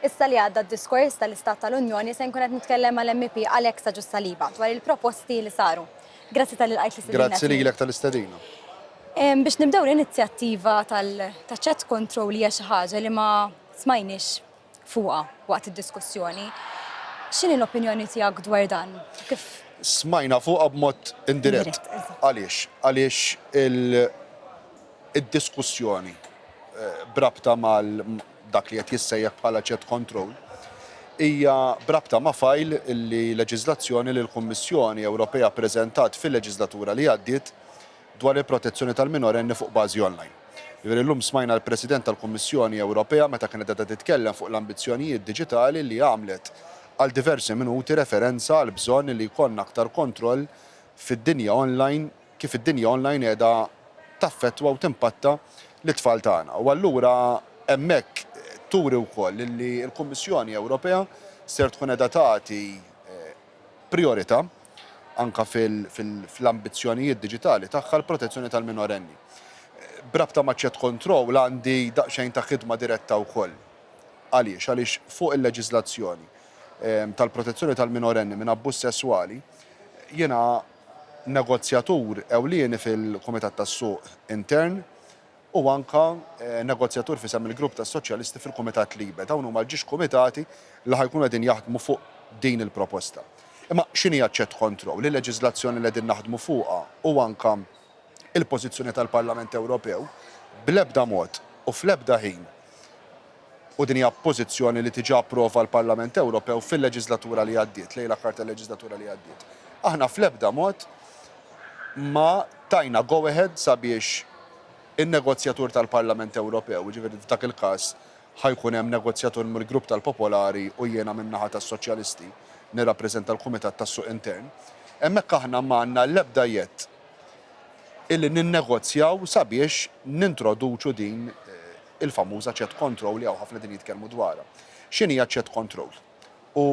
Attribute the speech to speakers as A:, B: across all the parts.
A: Issa li għadda d-diskors tal-Istat tal-Unjoni se nkun qed nitkellem mal-MEP Alex Agius Saliba dwar il-proposti li saru. Grazzi talli lqajt l-istedina tiegħi. Grazzi lilek tal-istedina.
B: Biex
A: nibdew l-inizjattiva tal-chat control hija xi ħaġa li ma smajniex fuqha waqt id-diskussjoni. X'inhi l-opinjoni tiegħek dwar dan? Kif Smajna fuqha
B: b'mod indirett. Għaliex? Għaliex il-diskussjoni b'rabta mal dak li qed jissejjaħ bħala chat control, hija b'rabta ma' fajl li leġiżlazzjoni li l-Kummissjoni Ewropea ppreżentat fil-leġiżlatura li għaddiet dwar il-protezzjoni tal-minorenni fuq bażi online. Jiġifieri llum smajna l-President tal-Kummissjoni Ewropea meta kienet qiegħda titkellem fuq l-ambizzjonijiet diġitali li għamlet għal diversi minuti referenza għall-bżonn li jkollna aktar kontroll fid-dinja online kif id-dinja online qiegħda taffettwa u timpatta lit-tfal tagħna. U allura hemmhekk turi wkoll li l-Kummissjoni Ewropea ser tkun qiegħda tagħti prijorità anke fl-ambizzjonijiet diġitali tagħha l-protezzjoni tal-minorenni. B'rabta ma' Chat Control għandi daqsxejn ta' ħidma diretta wkoll. Għaliex? Għaliex fuq il-leġiżlazzjoni tal-protezzjoni tal-minorenni minn abbuż sesswali jiena negozjatur ewlieni fil-Kumitat tas-Suq Intern u anke negozjatur f'isem il-Grupp tas-Soċjalisti fil-Kumitat LIBE. Dawn huma l-ġiex kumitati li ħa jkunu qegħdin jaħdmu fuq din il-proposta. Imma x'inhi aċċettkontroll? Il-leġiżlazzjoni li qegħdin naħdmu fuqha u anke il-pożizzjoni tal-Parlament Ewropew bl-ebda mod u fl-ebda ħin u din hija pożizzjoni li diġà approva l-Parlament Ewropew fil-leġiżlatura li għaddiet, lejn l-aħħar tal-leġiżlatura li għaddiet. Aħna fl-ebda mod ma tajna go ahead sabiex in-negozjatur tal-Parlament Ewropew, jiġifieri f'dak il-każ ħa jkun hemm negozjatur mill-Grupp tal-Popolari u jiena min-naħa tas-Soċjalisti nirrappreżenta l-Kumitat tas-Suq Intern, hemmhekk aħna m'għandna l-ebda jedd. illi ninnegozjaw sabiex nintroduċu din il-famuża chat control li hawn ħafna qegħdin jitkellmu dwarha. X'inhi hija chat control u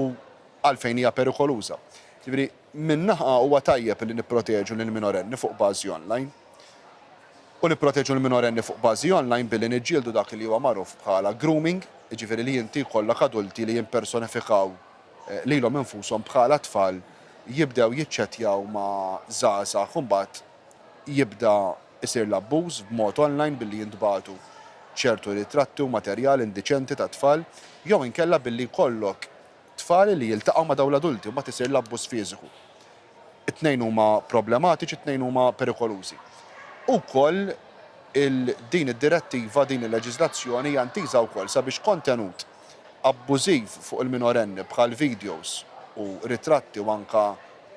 B: għalfejn hija perikoluża? Jiġifieri minn naħa huwa tajjeb li nipproteġu lill-minorenni fuq bażi online u nipproteġu l-minorenni fuq bażi online billi niġġieldu dak li huwa magħruf bħala grooming, jiġifieri li inti jkollok adulti li jimpersonifikaw lilhom infushom bħala tfal jibdew jiċċettjaw ma' żgħażagħ u mbagħad jibda jsir l-abbuż b'mod online billi jintbagħtu ċertu ritratti u materjal indiċenti ta' tfal jew inkella billi jkollok tfal li jiltaqgħu ma' dawn l-adulti u mbagħad isir l-abbuż fiżiku. It-tnejn huma problematiċi, it-tnejn huma perikolużi. Ukoll il din id-direttiva, din il-leġiżlazzjoni hija intiża wkoll sabiex kontenut abbużiv fuq il-minorenni bħal videos u ritratti u anke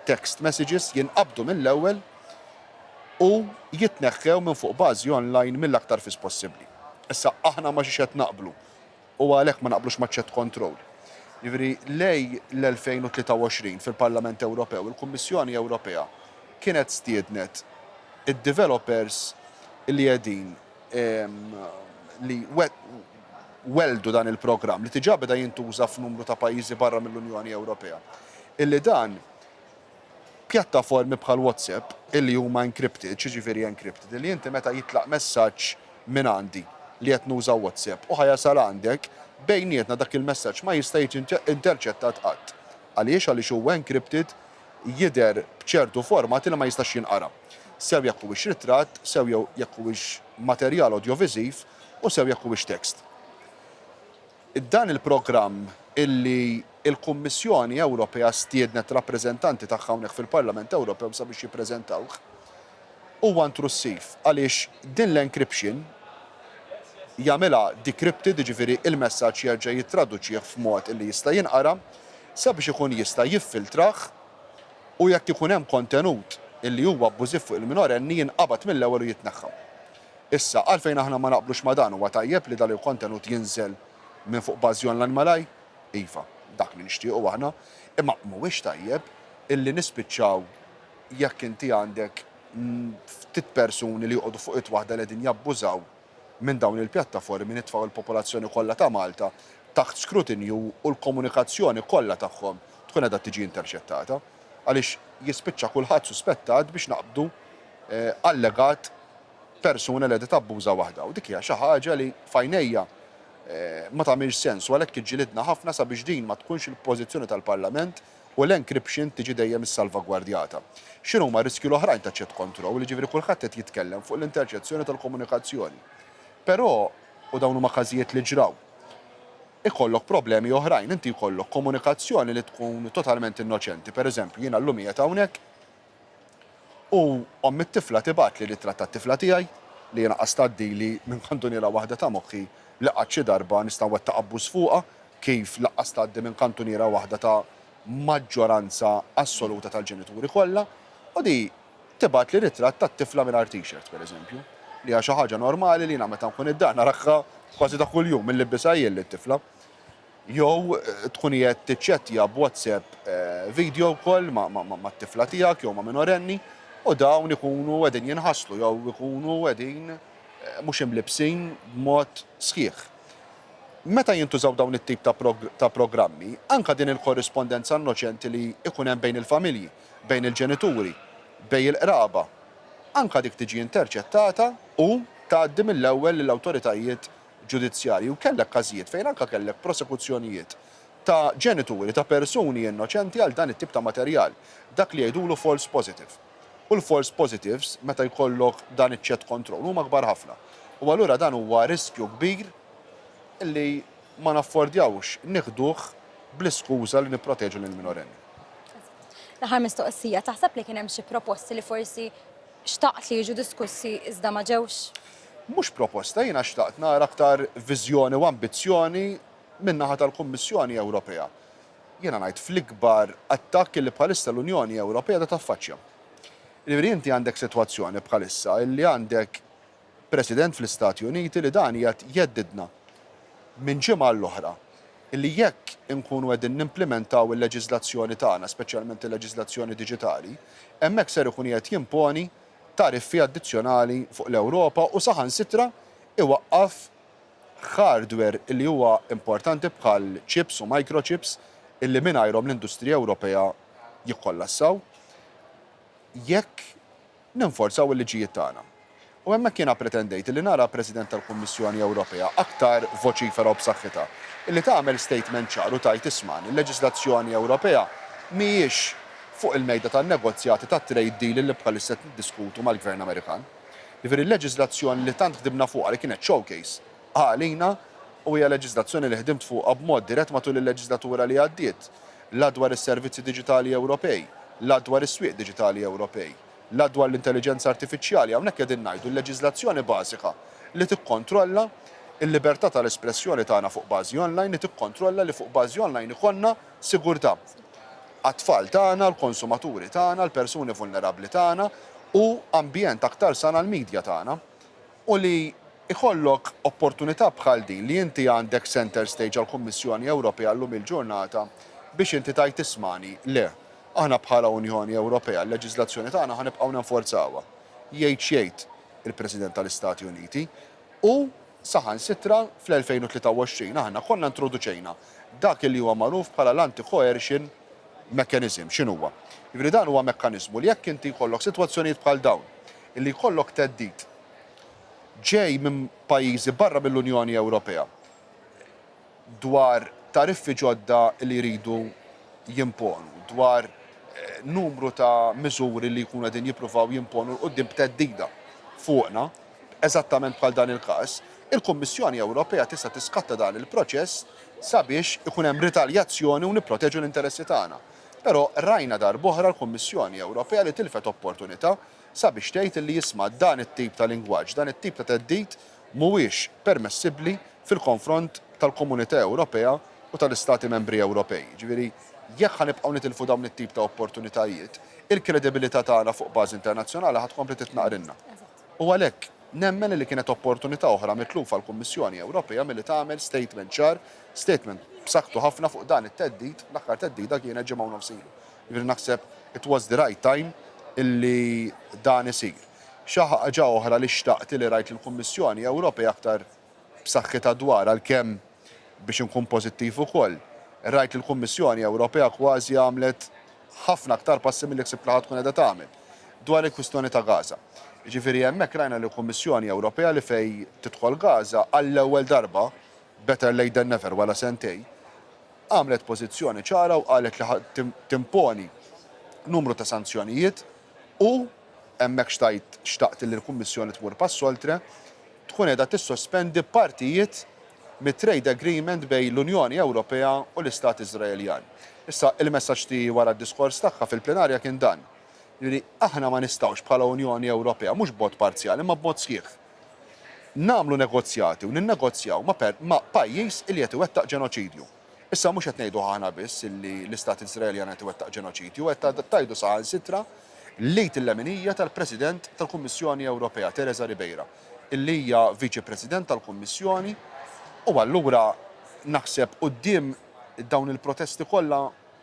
B: text messages jinqabdu mill-ewwel u jitneħħew minn fuq bażi online mill-aktar fis possibbli. Issa, aħna ma xiex qed naqblu? u għalhekk ma naqblux maċ-chat control. Jiġifieri lejn l-2023 fil-Parlament Ewropew il-Kummissjoni Ewropea kienet stiednet id-developers li qegħdin li welldu dan il-programm li diġà beda jintuża f'numru ta' pajjiżi barra mill-Unjoni Ewropea illi dan Pjattaformi bħal WhatsApp illi huma encrypted, x'jiġifieri encrypted? Illi inti meta jitlaq messaġġ minn għandi li qed nuża WhatsApp u ħa jasal għandek, bejnietna dak il-messaġġ ma jista' jiġi interċettat qatt. Għaliex? Għaliex huwa encrypted, jidher b'ċertu format illi ma jistax jinqara. Sew jekk huwiex ritratt, sew jew jekk huwiex materjal odjoviżiv u sew jekk huwiex text. Dan il-programm, illi l-Kummissjoni Ewropea stiednet rappreżentanti tagħha hawnhekk fil-Parlament Ewropew sabiex jippreżentawh, huwa intrussiv għaliex din l-encryption jagħmilha decrypted, jiġifieri l-messaġġ jerġa' jittraduċih f'mod illi jista' jinqara, sabiex ikun jista' jiffiltrah u jekk ikun hemm kontenut illi huwa abbużiv fuq il-minorenni jinqabad mill-ewwel u jitneħħa. Issa, għalfejn aħna ma naqblux ma' dan? Huwa tajjeb li dan il-kontenut jinżel minn fuq bażi online malajr? Iva, dak li nixtiequ aħna. Imma mhuwiex tajjeb illi nispiċċaw jekk inti għandek ftit persuni li joqogħdu fuq id waħda li qegħdin jabbużaw minn dawn il-pjattaformi nitfgħu l-popolazzjoni kollha ta' Malta taħt skrutinju u l-komunikazzjoni kollha tagħhom tkun qiegħda tiġi interċettata għaliex jispiċċa kulħadd suspettat biex naqbdu allegat persuna li qiegħda tabbuża waħda u dik hija xi ħaġa li f'għajnejja ma tagħmilx sens u għalhekk iġġilidna ħafna sabiex din ma tkunx il-pożizzjoni tal-Parlament u l-encryption tiġi dejjem issalvagwardjata. X'inhuma r-riskji l-oħrajn ta' chat control, jiġifieri kulħadd qed jitkellem fuq l-interċezzjoni tal-komunikazzjoni. Però, u dawn huma każijiet li ġraw, ikollok problemi oħrajn, inti jkollok komunikazzjoni li tkun totalment innoċenti, pereżempju jiena llum qiegħed hawnhekk, U omm it-tifla tibgħatli l-ittra tat-tifla tiegħi li jiena qas tgħaddi li minn kantuniera waħda ta' moħħi li qatt xi darba nista' nwettaq abbuż fuqha kif laqqas tgħaddi minn kantuniera waħda ta' maġġoranza assoluta tal-ġenituri kollha u di tibgħatli ritratt tat-tifla mingħajr t-shirt pereżempju li hija xi ħaġa normali li jiena meta nkun id-dar narakha kważi ta' kuljum milli bbisha jien lit-tifla. Jew tkun qiegħed tiċċettja b'WhatsApp video call mat-tifla tiegħek jew ma' minorenni u dawn ikunu qegħdin jinħaslu jew ikunu qegħdin mhux imlibbsin b'mod sħiħ. Meta jintużaw dawn it-tip ta' programmi, anke din il-korrispondenza innoċenti li jkun hemm bejn il-familji, bejn il-ġenituri, bejn il-qraba, anke dik tiġi interċettata u tgħaddi mill-ewwel lill-awtoritajiet ġudizzjarji u kellek każijiet fejn anke kellek prosekuzzjonijiet ta' ġenituri ta' persuni innoċenti għal dan it-tip ta' materjal, dak li jgħidulu false positive. U l-false positives meta jkollok dan iċ-chat control huma kbar ħafna. U allura dan huwa riskju kbir li ma naffordjawx nieħduh bl-iskuża li nipproteġu lill-minorenni.
A: L-aħħar mistoqsija, taħseb li kien hemm xi proposti li forsi xtaqt li jiġu diskussi iżda ma ġewx? Mhux proposta,
B: jiena xtaqt nara aktar viżjoni u ambizzjoni min-naħa tal-Kummissjoni Ewropea. Jiena ngħid fl-ikbar attakk li bħalissa l-Unjoni Ewropea qiegħda taffaċċja. Jiġifieri inti għandek sitwazzjoni bħalissa li għandek President fl-Istati Uniti li dan qiegħed jeddidna minn ġimgħa għall-oħra li jekk inkunu qegħdin nimplimentaw il-leġiżlazzjoni tagħna, speċjalment il-leġiżlazzjoni diġitali, hemmhekk ser ikun qiegħed jimponi tariffi addizzjonali fuq l-Ewropa u saħansitra iwaqqaf hardware li huwa importanti bħal chips u microchips li mingħajrhom l-industrija Ewropea jikkollassaw jekk ninforzaw il-liġijiet tagħna. U hemmhekk jiena pretendejt li nara President tal-Kummissjoni Ewropea aktar voċifera u b'saħħitha, li tagħmel statement ċar u tgħid isma', il-leġiżlazzjoni Ewropea mhijiex fuq il-mejda tan-negozjati tat-trade deal li bħalissa qed niddiskutu mal-Gvern Amerikan. Jiġifieri l-leġiżlazzjoni li tant ħdimna fuqha li kienet showcase għalina u hija leġiżlazzjoni li ħdimt fuqha b'mod dirett matul il-leġiżlatura li għaddiet, la dwar is-servizzi diġitali Ewropej, la dwar is-swieq diġitali Ewropej, la dwar l-intelliġenza artifiċjali, hawnhekk qegħdin ngħidu l-leġiżlazzjoni bażika li tikkontrolla l-libertà tal-espressjoni tagħna fuq bażi online, li tikkontrolla li fuq bażi online ikollna, sigurtà għat-tfal tagħna, l-konsumaturi tagħna, l-persuni vulnerabbli tagħna u ambjent aktar san għall-midja tagħna. U li jkollok opportunità bħal din li inti għandek centre stage għall-Kummissjoni Ewropea llum il-ġurnata biex inti tgħid ismagħni, le, aħna bħala Unjoni Ewropea l-leġiżlazzjoni tagħna ħa nibqgħu nenforzawha. Jgħid x'jgħid il-President tal-Istati Uniti, U saħansitra fl-2023 aħna konna introduċejna dak li huwa magħruf bħala l-anti-coercion mechanism. X'inhuwa? Jiġifieri dan huwa mekkaniżmu li jekk inti jkollok sitwazzjonijiet bħal dawn, illi jkollok theddid ġej minn pajjiżi barra mill-Unjoni Ewropea, dwar tariffi ġodda li jridu jimponu, dwar numru ta' miżuri li jkunu qegħdin jippruvaw jimponu 'l quddiem b'theddida fuqna, eżattament bħal dan il-każ, il-Kummissjoni Ewropea tista' tiskatta dan il-proċess sabiex ikun hemm ritaljazzjoni u nipproteġu l-interessi tagħna. Però rajna darb'oħra l-Kummissjoni Ewropea li tilfet opportunità sabiex tgħid li isma' dan it-tip ta' lingwaġġ, dan it-tip ta' theddid, mhuwiex permessibbli fil-konfront tal-Komunità Ewropea u tal-Istati Membri Ewropej. Jiġifieri, jekk ħa nibqgħu nitilfu dawn it-tip ta' opportunitajiet, il-kredibilità tagħna fuq bażi internazzjonali ħa tkompli titnaqrilna. U għalhekk, nemmen li kienet opportunità oħra mitlufa l-Kummissjoni Ewropea milli tagħmel statement ċar, statement b'saħħtu ħafna fuq dan it-theddid, l-aħħar theddida kienet ġimgħa u nofs ilu. Jiġifieri naħseb it was the right time illi dan isir. Xi ħaġa oħra li xtaqt li rajt lill-Kummissjoni Ewropea aktar b'saħħitha dwarha, għalkemm, biex inkun pożittiv ukoll, rajt li l-Kummissjoni Ewropea kważi għamlet ħafna aktar passi milli ħsibt li ħa tkun qiegħda tagħmel, dwar il-kwistjoni ta' Gaza. Jiġifieri hemmhekk rajna li Kummissjoni Ewropea li fejn tidħol Gaza, għall-ewwel darba, better late than never, wara sentejn, għamlet pożizzjoni ċara u qalet li ħa timponi numru ta' sanzjonijiet, U, hemmhekk xtajt, xtaqt li l-Kummissjoni tmur pass oltre, tkun qiegħda tissospendi partijiet mit-trade agreement bejn l-Unjoni Ewropea u l-Istat Iżraeljan. Issa, il-messaġġ tiegħi wara d-diskors tagħha fil-plenarja kien dan, jiġifieri, aħna ma nistgħux bħala Unjoni Ewropea, mhux b'mod parzjali imma b'mod sħiħ, nagħmlu negozjati u ninnegozjaw ma' ma' pajjiż li qed iwettaq ġenoċidju. Issa mhux qed ngħiduh aħna biss illi l-Istat Iżraeljan qed iwettaq ġenoċidju, qed tgħidu saħansitra l-Eid il-leminija tal-President tal-Kummissjoni Ewropea, Teresa Ribeira, illi hija Viċi President tal-Kummissjoni u allura naħseb quddiem dawn il-protesti kollha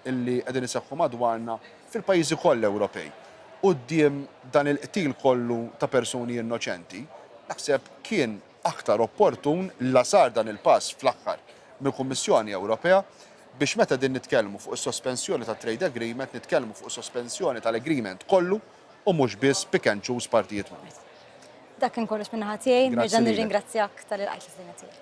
B: illi qegħdin iseħħu madwarna fil-pajjiżi kollha Ewropej, quddiem dan il-qtil kollu ta' persuni innoċenti, naħseb kien aktar opportun la sar dan il-pass fl-aħħar mill-Kummissjoni Ewropea biex meta din nitkellmu fuq is-sospensjoni tat-trade agreement nitkellmu fuq sospensjoni tal-agreement kollu u mhux biss pick and choose partijiet minnu.
A: Dak kien kollox min-naħa tiegħi.
B: Nerġa'
A: nirringrazzjak talli
B: lqajt
A: l-istedina tiegħi.